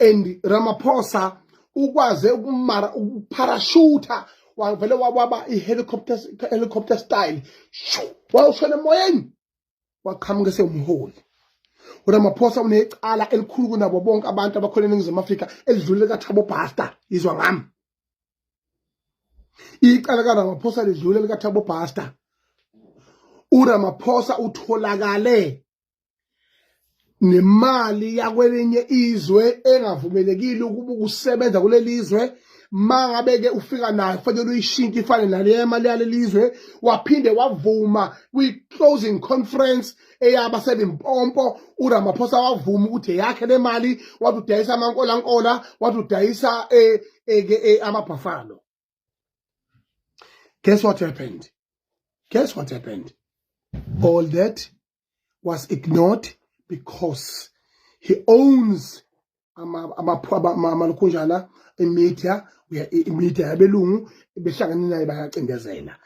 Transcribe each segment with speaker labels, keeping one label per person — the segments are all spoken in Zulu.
Speaker 1: and Ramaphosa ukwaze ukumara ukuparashutha wavele wababa i-helicopter helicopter style shu wawushona emoyeni waqhamuka esewumholi uramaphosa unecala elikhulu kunabo bonke abantu abakhona eningizimu afrika elidlulele kathabo bhasta yizwa ngami icala karamaphosa lidlulele kathabo bhasta uramaphosa utholakale nemali yakwelinye izwe engavumelekile ukuba ukusebenza kuleli zwe mangabe-ke ufika nayo kufanele uyishintshe ifane naleya mali yaleli zwe waphinde wavuma kwi-closing conference eyaba selimpompo uramaphosa wavuma ukuthi eyakhe le mali wathi udayisa amankolankola wathi udayisa eh, eh, eh, amabhafalo Guess what happened? Guess what happened? All that was ignored because he owns amalukhunjana imedia imedia yabelungu behlangane naye bayacindezela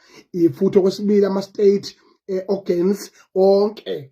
Speaker 1: futhi okwesibili ama-state eh, organs onke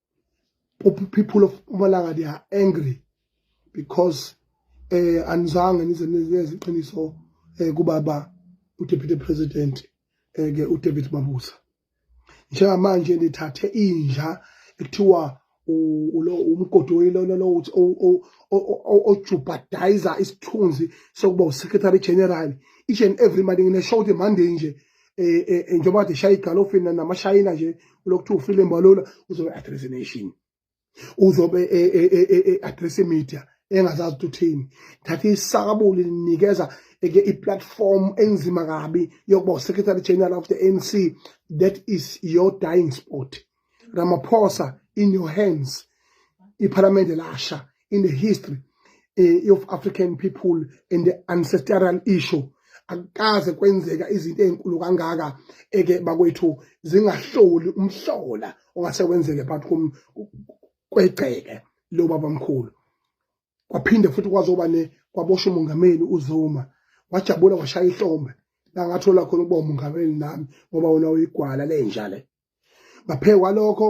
Speaker 1: people of Mpumalanga they are angry because eh anizange nize nizenze iqiniso eh kubaba uDeputy President eh ke uDavid Mabuza njengamanje nithathe inja ekuthiwa ulo umgodi oyilona lo uthi ojubhadayiza isithunzi sokuba uSecretary General each and every money ngine show ukuthi manje nje eh, eh, eh, njengoba kade shaya igalofini namashayina nje lokuthiwa ufile mbalula uzobe address nation uzobe address media engazazi ukuthi uthini thatha isakabuli linikeza eke i-platform enzima kabi yokuba uSecretary General of the ANC that is your dying spot Ramaphosa in your hands iphalamende lasha in the history eh, of African people and the ancestral issue akukaze kwenzeka izinto ezinkulu kangaka eke bakwethu zingahloli umhlola ongase wenzeke but kwegceke lo baba mkhulu kwaphinde futhi kwazoba ne kwabosha umongameli uZuma wajabula washaya ihlombe la ngathola khona ukuba umongameli nami ngoba wona uyigwala lenja le ngaphezu kwalokho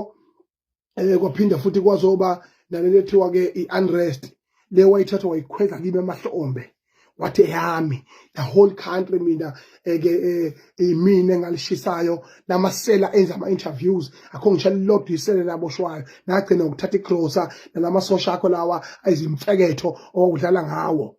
Speaker 1: um eh, kwaphinda futhi kwazoba nalento ethiwa-ke i-unrest le wayithathwa wayikhweza kimi amahlombe wathi eyami the whole country mina eke eh, eh, imina engalishisayo namasela enza ama interviews akho ngisho lilodwa isele laboshwayo nagcina ukuthatha igrosa nalamasosha akho lawa ayizimfeketho owudlala ngawo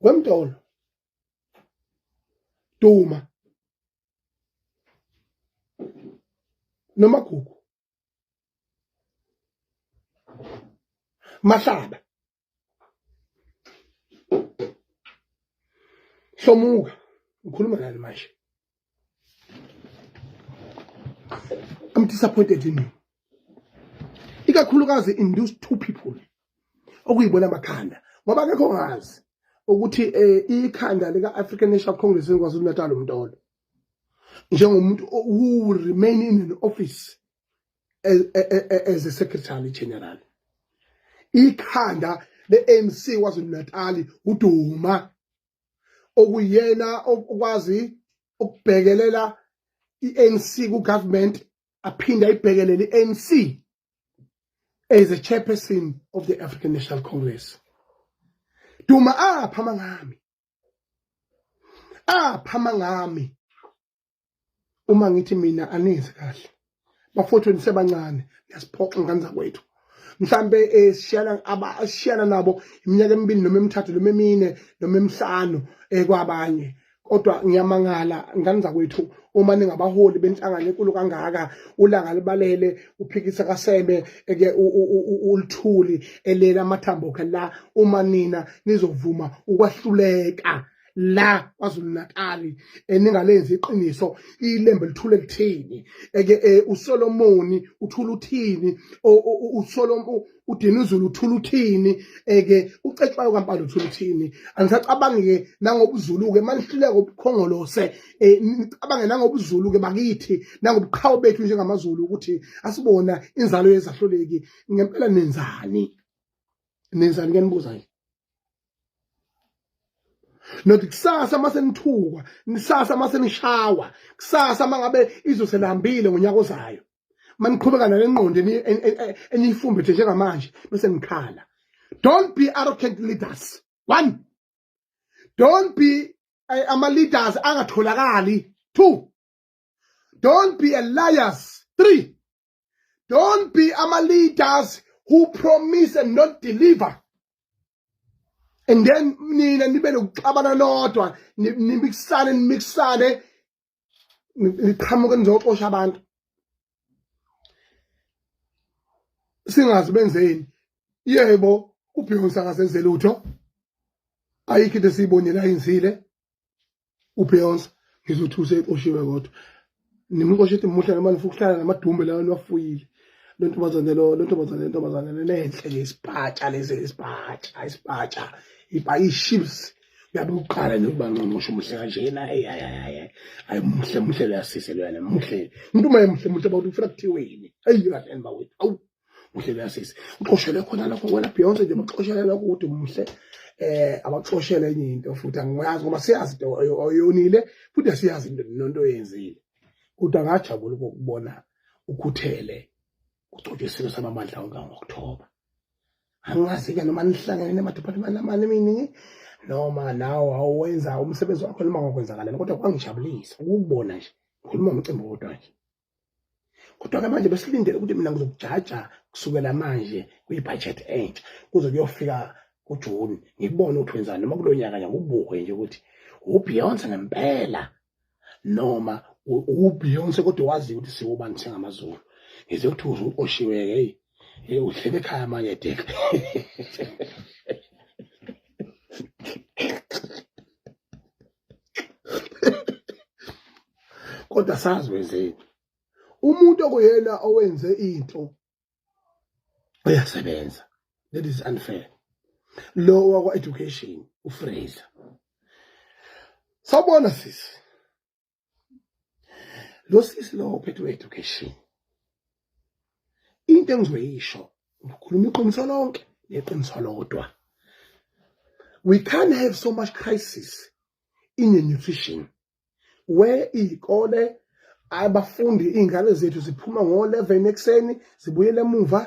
Speaker 1: wemdolo duma nomagugu mahlaba hlomuka ngikhuluma nani manje I'm disappointed in you. Ikakhulukazi in those two people okuyibona amakhanda ngoba akekho ngazi ukuthi eh, ikhanda lika African National Congress enkwaZulu Natal umntolo njengomuntu who will remain in an office as, as a secretary general ikhanda le ANC kwaZulu Natal uduma okuyena okwazi ukubhekelela i-ANC ku-government aphinde ayibhekelele i-ANC as a chairperson of the African National Congress duma apha mangami apha mangami uma ngithi mina anenzi kahle bafowethu nisebancane niyasiphoxa ngane zakwethu mhlambe eh, sishiyana abashiyana nabo iminyaka emibili noma emithathu noma emine noma emihlanu eh, kwabanye kodwa ngiyamangala ngane zakwethu uma ningabaholi benhlangano enkulu kangaka ulanga libalele uphikisa kasebe eke ulithuli elela amathambo khe la uma nina nizovuma ukwahluleka la kwazulu natali eningalenzi iqiniso ilembe lithule lithini eke e, usolomoni uthula uthini usolomo udinuzulu uthula uthini eke ucetshwayo kampala uthula uthini angisacabangi-ke nangobuzulu-ke manihluleka ubukhongolose e, nicabange nangobuzulu-ke bakithi nangobuqhawe bethu njengamazulu ukuthi asibona inzalo yezahluleki ngempela nenzani nenzani kuyanibuza-ke nothi kusasa uma senithukwa nisasa uma senishawa kusasa uma ngabe izwe selihambile ngonyaka ozayo uma niqhubeka nale ngqondo eniyifumbethe njengamanje bese nikhala don't be arrogant leaders one don't be eh, ama-leaders angatholakali two don't be a liars three don't be ama leaders who promise and not deliver and then nina nibe nokuxabana nodwa nimixane nimixane niqhamuke nizoxosha abantu singazi benzeni yebo ubeyonce akasenze lutho ayikho into esiyibonile ayenzile ubeyonce ngizothi usexoshiwe kodwa nimxoshe ethi muhle noma nifuna ukuhlala namadumbe lawa niwafuyile lo ntombazane lo lo ntombazane ntombazane lenhle nje isipatsha lezi isipatsha isipatsha ibhayiships yabe uqala nje ukuba nqonqosho muhle kanjena hey hayi hayi hayi muhle muhle leyasise loyana muhle umuntu uma emuhle muhle bawuthi ufuna kuthiweni ayi kahle bawethu awu uhlelo yasisi uxoshele khona lokho wena Beyonce nje uxoshele lokho ukuthi umhle eh abaxoshele enye into futhi angiyazi ngoba siyazi into oyonile futhi siyazi into nonto oyenzile kodwa ngajabula ukubona ukhuthele ugcotshwe isilo samamandla onke ngokuthoba angazi-ke noma nihlangene nemadiphathimani amane eminingi noma nawo awenza umsebenzi wakho noma ngokwenzakala kodwa kwangijabulisa ukubona nje ngikhuluma umcimbi wodwa nje kodwa-ke manje besilindele ukuthi mina ngizokujaja kusukela manje kwi-budget entsha kuze kuyofika kujuni ngikubone ukuthi wenzani noma kulo nyaka nje ngikubuke nje ukuthi ubeyonce ngempela noma ubeyonce kodwa waziyo ukuthi siwubani singamazulu ngize ukuthi uze uqoshiwe-ke eyi Hey, uhlele ekhaya manje Dick. kodwa sazi wenzeni umuntu okuyena owenze into uyasebenza that is unfair lo wakwa education ufraser sabona sisi lo sisi lo ophethe education into engizoyisho ngikhuluma iqiniso lonke neqiniso lodwa we can't have so much crisis in the nutrition where iy'kole abafundi iy'ngane zethu ziphuma ngo-11 ekuseni zibuyele emuva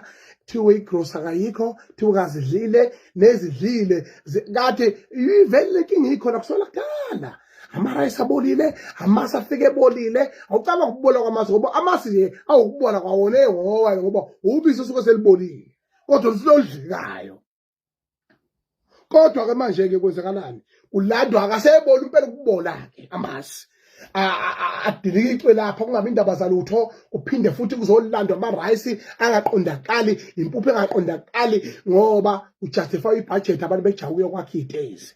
Speaker 1: thiwe igrosa kayikho thiwe kazidlile nezidlile kade ivele le nkinga ikhona kusona kudala amarayisi abolile amasi afike ebolile awucaba ngokubola kwamasi ngoba amasi nje awukubola kwawona ehowa ngoba ubisi osuke selibolile kodwa lusilolidlekayo kodwa-ke manje-ke kwenzakalani kulandwa akaseboli impela ukubola-ke amasi adilike icwe lapha kungabi indaba zalutho kuphinde futhi kuzolandwa amarayisi angaqondakali impuphu engaqondakali ngoba kujustify ibhajethi abantu bejaha ukuyokwakha iy'tezi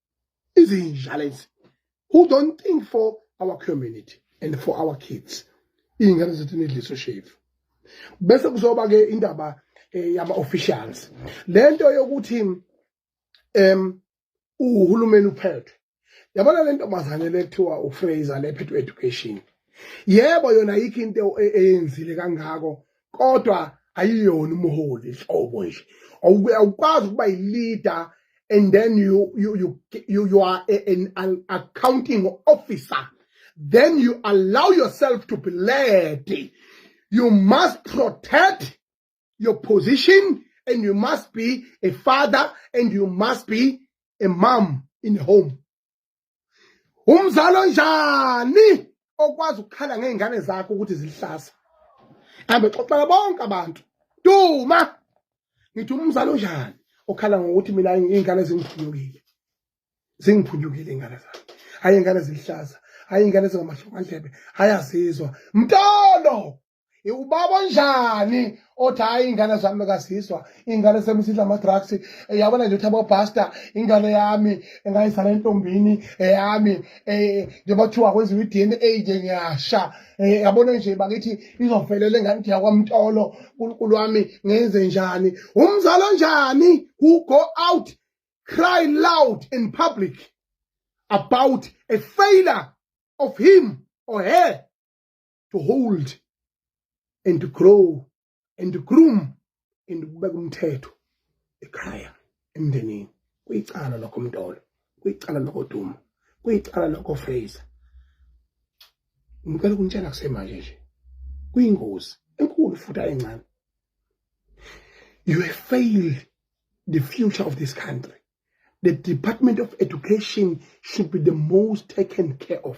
Speaker 1: izinja lezi who don't think for our community and for our kids iy'ngane zethu nidliso shevu bese kuzoba-ke indaba eh, yama-officials le nto yokuthi um uhulumeni uphethwe yabona le ntombazane le kuthiwa ufraser le phethwe education yebo yona yikho into e-, eyenzile kangako kodwa ayiyona umholi nhlobo nje awukwazi ukuba yi-leader and then you, you, you, you, you are a, an, an accounting officer then you allow yourself to be led you must protect your position and you must be a father and you must be a mom in home umzali onjani okwazi ukukhala ngey'ngane zakho ukuthi zilihlaza hambe xoxela bonke abantu duma ngithi umzali onjani okhala ngokuthi mina iy'ngane zingiphunyukile zingiphunyukile iy'ngane zami hhayi iy'ngane zilihlaza hhayi iy'ngane zingamahlokandlebe hhayi azizwa mtolo ubaba onjani othi hayi iy'ngane zami kazizwa iy'ngane sami sidla ama-drugs yabona nje ukuthi abobhasta ingane yami engayizala entombini eyami um njengoba kuthiwa kwenziwa i-d n a nje ngiyasha um yabona nje bakithi izovelela engane ithi yakwamtolo nkulunkulu wami ngenze njani umzali onjani who go out cry loud in public about a failure of him or her to hold and to grow and to groom and kubeka umthetho ekhaya emndenini kuyicala lokho mntolo kuyicala lokho duma kuyicala lokho fraser ngicela ukunitshela kusemanje nje kuyingozi enkulu futhi ayincane you have failed the future of this country the department of education should be the most taken care of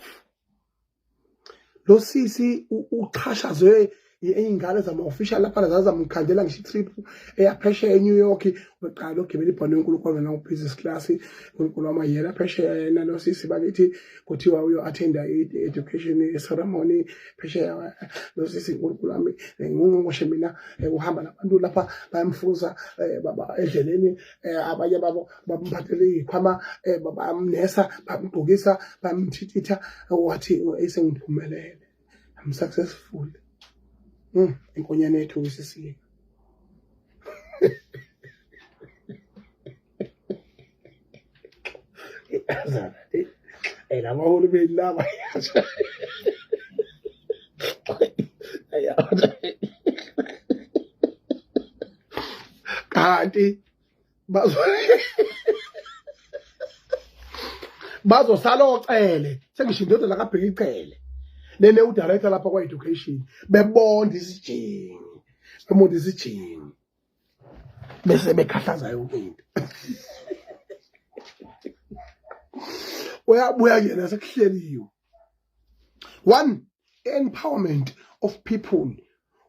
Speaker 1: lo sisi uchashazwe iy'ngane zama-official laphana zazamkhandela ngisho i-trip eyaphesheya e-new york beqala ogibela ibhano yonkulunkulu wena ubusiness class unkulunkulu wama yena phesheya yena lo sisi bakithi kuthiwa uyo-athenda i-education ceremony phesheya lo sisi unkulunkulu wami ngingqongqoshe mina eh, uhamba nabantu lapha bayamfuza eh, edleleni eh, abanye babo bamphathele ikhwama eh, bamnesa bamgqokisa bamthithitha wathi esengiphumelele i'm successful mm inkonyane yethu ngisisile azana eh laba hulu belaba yasha kanti bazo bazosala ocele sengisho indoda lakabheka icele nene udirector lapha kwa-education bebonda isijingi bebonda isijingi bese bekhahlaza yonke into uyabuya kuyena sekuhleliwe one empowerment of people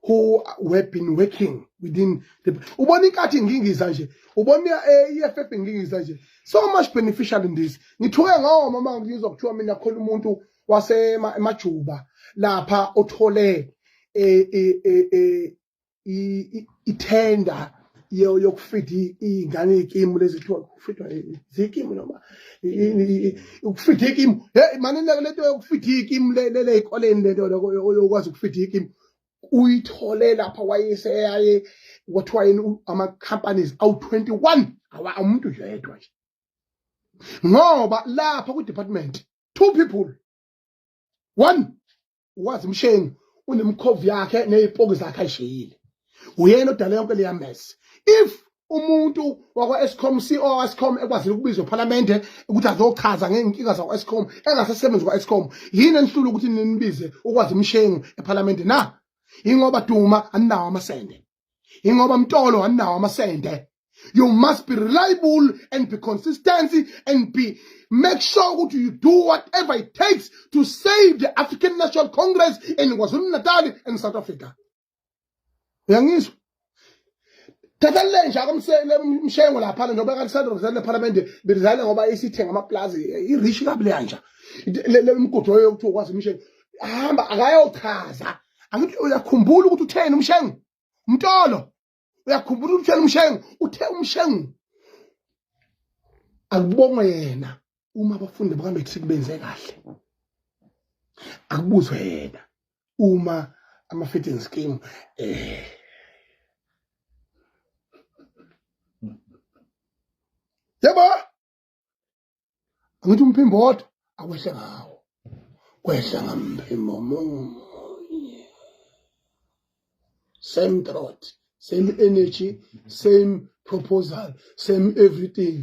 Speaker 1: who were been working within the ubona inkathi ngingiza nje ubona i-EFF ngingiza nje so much beneficial in this ngithuke ngawo mama ngizwa kuthiwa mina khona umuntu wasemajuba lapha othole eh, eh, eh, ithenda yokufida iy'ngane iy'kimu lezi kuthiwa kufidwa zikimu noma ukufida ikimu heyi mane lento yokufida ikimu ley'koleni lento yokwazi ukufida ikimu uyithole lapha wayeseyaye kwathiwa yini ama-companies awu-twenty one awa umuntu yedwa nje ngoba lapha kwi-department two people one wazi mshengu unemkhovu yakhe nezipoki zakhe ayisheyile uyena odala yonke leya mess if umuntu wakwa Eskom CEO Eskom ekwazile ukubizwa ePhalamende ukuthi azochaza ngeenkinga zakwa Eskom engasesebenzi kwa Eskom yini enihlula ukuthi ninibize ukwazi umshengu ePhalamende na ingoba duma aninawo amasende ingoba mtolo anawo amasende you must be reliable and be consistency and be make sure ukuthi you do whatever it takes to save the african national congress in kwazulu-natal and south africa uyangizwa thatha lenja komshengo laphana njengoba kalisandrozela lephalamende belizale ngoba isithenga amaplazi irishi kabi leyanja le mgudu yokuthi ukwazi imisheni hamba akayochaza angithi uyakhumbula ukuthi utheni umshengu umtolo uyakhumbula ukuthi utheni umshengu uthe umshengu akubongwe yena uma abafundi bakaMatric benze kahle akubuzwe yena uma ama-feeding scheme eh yebo angithi umphimbo wodwa akwehle ngawo kwehla ngamphimbo munye same throat same energy same proposal same everything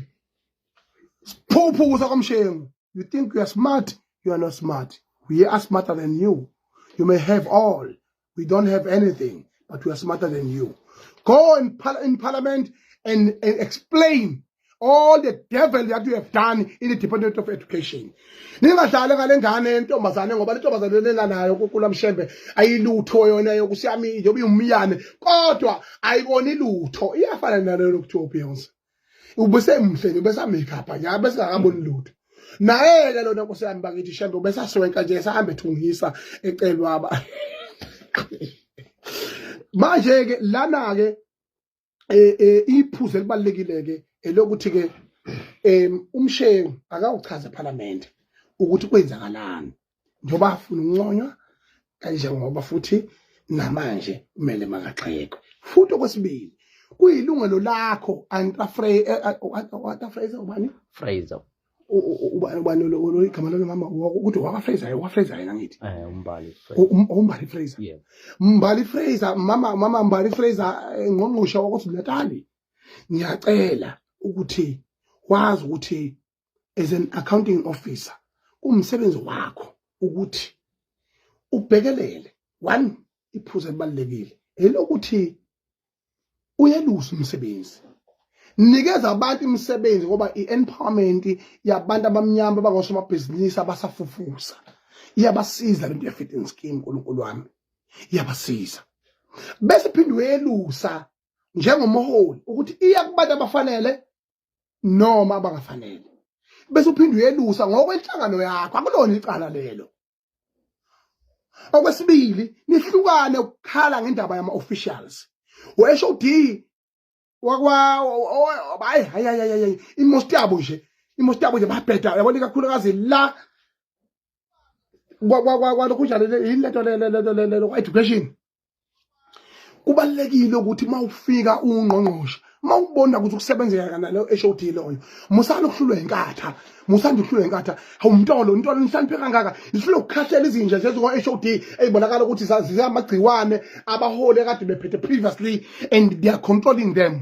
Speaker 1: phuphu kusa komshengu you think you are smart you are not smart we are smarter than you you may have all We don't have anything, but we are smarter than you. Go in, par in parliament and, and explain all the devil that you have done in the department of education ningadlali ngale ngane yentombazane ngoba le ntombazane lelanayo kukula mshembe ayilutho yona yokusiyamile yoba iwumyane kodwa ayiboni lutho iyafana nalelo kuthiwa ubeyonce ubesemhle nje ubesamakeup nje abesingakaboni lutho naye-ke lona nkosi yami bakithi shembe ubesaswenka nje esahambe ethungisa ecelwa aba manje-ke lana-ke um iphuzu elibalulekile-ke elokuthi-ke um umshengu akawuchaze ephalamende ukuthi kwenzakalani njengoba afuna ukunconywa kanjengoba futhi namanje kumele makagxekwe futhi okwesibili kuyilungelo lakho antra frey eh, eh, oh, ah, oh, antra frey ubani fraser
Speaker 2: ubani
Speaker 1: ubani lo lo igama lo mama ukuthi waka fraser waka fraser yena ngithi eh umbali fraser um, umbali fraser yeah mbali
Speaker 2: fraser
Speaker 1: mama mama mbali fraser eh, ngqongqoshe wakwasibulali ngiyacela ukuthi wazi ukuthi as an accounting officer kumsebenzi wakho ukuthi ubhekelele one iphuza elibalekile elokuthi uyelusa umsebenzi nikeza abantu imisebenzi ngoba i-empowerment yabantu abamnyama abangosomabhizinisi abasafufusa iyabasiza lento ye-fitting scheme nkulunkulu wami iyabasiza bese phinde uyelusa njengomholi ukuthi iya kubantu abafanele noma abangafanele bese uphinde uyelusa ngokwenhlangano yakho akulona icala lelo okwesibili nihlukane ukukhala ngendaba yama officials wesho uD wakwa hayi hayi hayi imosti yabo nje imosti yabo nje babheda yabona kakhulukazi la kwalokhunjalo yini lento lento lento education kubalekile ukuthi mawufika ungqongqoshe mawubona ukuthi ukusebenzeka kanalo eShowD loyo musana ukuhlulwa inkatha musanda ukuhlulwa inkatha awumntolo intolo nisaniphe kangaka isilo kukhahlela izinja zezo kwa SHOD ezibonakala ukuthi zazizamagciwane abahole kade bephethe previously and they are controlling them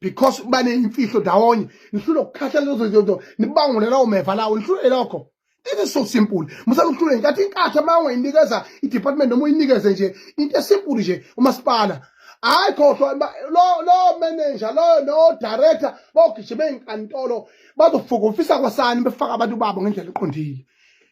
Speaker 1: because baneyimfihlo ndawonye nihlule ukukhathala lezo zinto nibangule lawo meva lawo nihlule lokho It is so simple. Musala ukuhlule nkathi inkatha uma ungayinikeza i-department noma uyinikeze nje into esimple nje umasipala hayi khohlwa lo lo manager lo no director bogijima ezinkantolo bazofukufisa kwasani befaka abantu babo ngendlela eqondile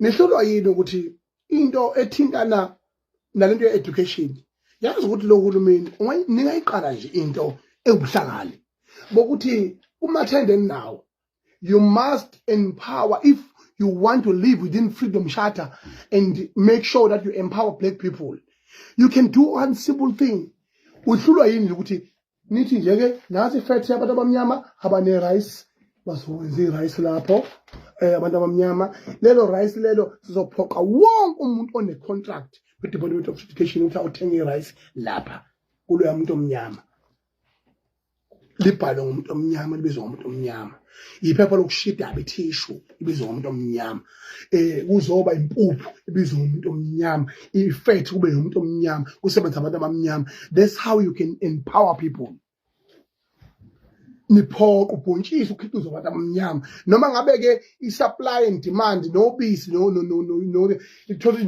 Speaker 1: nihlulwa yini ukuthi into ethintana nalento ye-education yazi ukuthi lo hulumeni ningayiqala nje into ewubuhlakani bokuthi kumathende eninawo you must empower if you want to live within freedom charter and make sure that you empower black people you can do one simple thing uhlulwa yini ukuthi nithi nje ke nathi fethe abantu abamnyama abane rice bazokwenza i-rice lapho eh abantu abamnyama lelo rice lelo sizophoqa wonke umuntu one-contract kwi-department of education ukuthi awuthenge i-rice lapha kuloya muntu omnyama libhalwe ngomuntu omnyama libizwa ngomuntu omnyama iphepha lokushida abethishu ibizwa ngomuntu omnyama eh kuzoba impuphu ibizwa ngomuntu omnyama ifethi kube yomuntu omnyama kusebenza abantu abamnyama that's how you can empower people niphoqa ubhontshisi ukhiqizo abantu abamnyama noma ngabe ke i-supply and demand nobisi no no no no ithola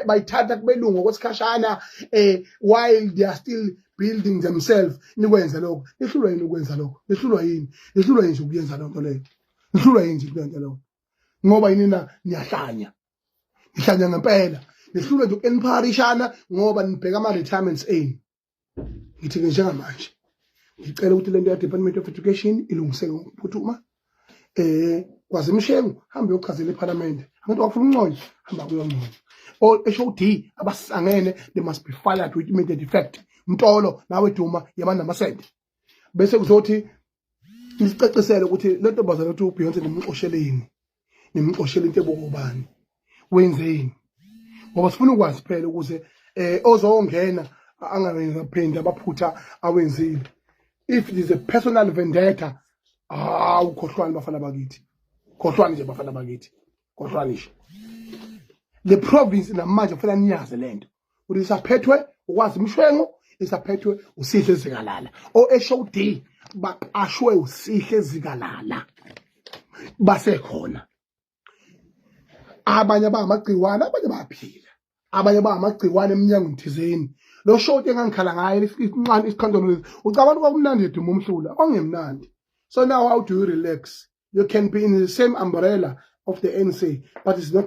Speaker 1: bayithatha kubelungu okwesikhashana eh while they are still building themselves nikwenze lokho nihlulwa yini ukwenza lokho nihlulwa yini nihlulwa yini nje ukuyenza loo nto leyo nihlulwa yini nje ukuyenza lokho ngoba yini na niyahlanya nihlanya ngempela nihlulwa nje uku-enparishana ngoba nibheka ama-retirements enu ngithi-ke njengamanje ngicela ukuthi le nto ya-department of education ilungiseke ngokuphuthuma eh kwaze mshengu hambe yochazela eParliament abantu bafuna uncoyo hamba kuyoncoyo or HOD abasangene they must be fired with immediate effect mtolo nawe duma yabana namasende bese kuzothi nisicacisele ukuthi le ntombazane ukuthi uBeyonce nimxosheleni nimxoshela into ebokubani wenzeni ngoba sifuna ukwazi phela ukuze eh ozongena angawenza phinde abaphutha awenzile if it is a personal vendetta ah ukhohlwani bafana bakithi khohlwani nje bafana bakithi khohlwani nje le province namanje kufanele niyazi lento ukuthi isaphethwe ukwazi imshwengo isaphethwe usihle zikalala oSHOD baqashwe usihle zikalala basekhona abanye abangamagciwane abanye bayaphila abanye abangamagciwane emnyangweni thizeni lo shoti engangikhala ngaye inqani isikhandolo lesi ucabanga kwakumnandi eduma umhlula ongemnandi so now how do you relax you can be in the same umbrella of the ANC but it's not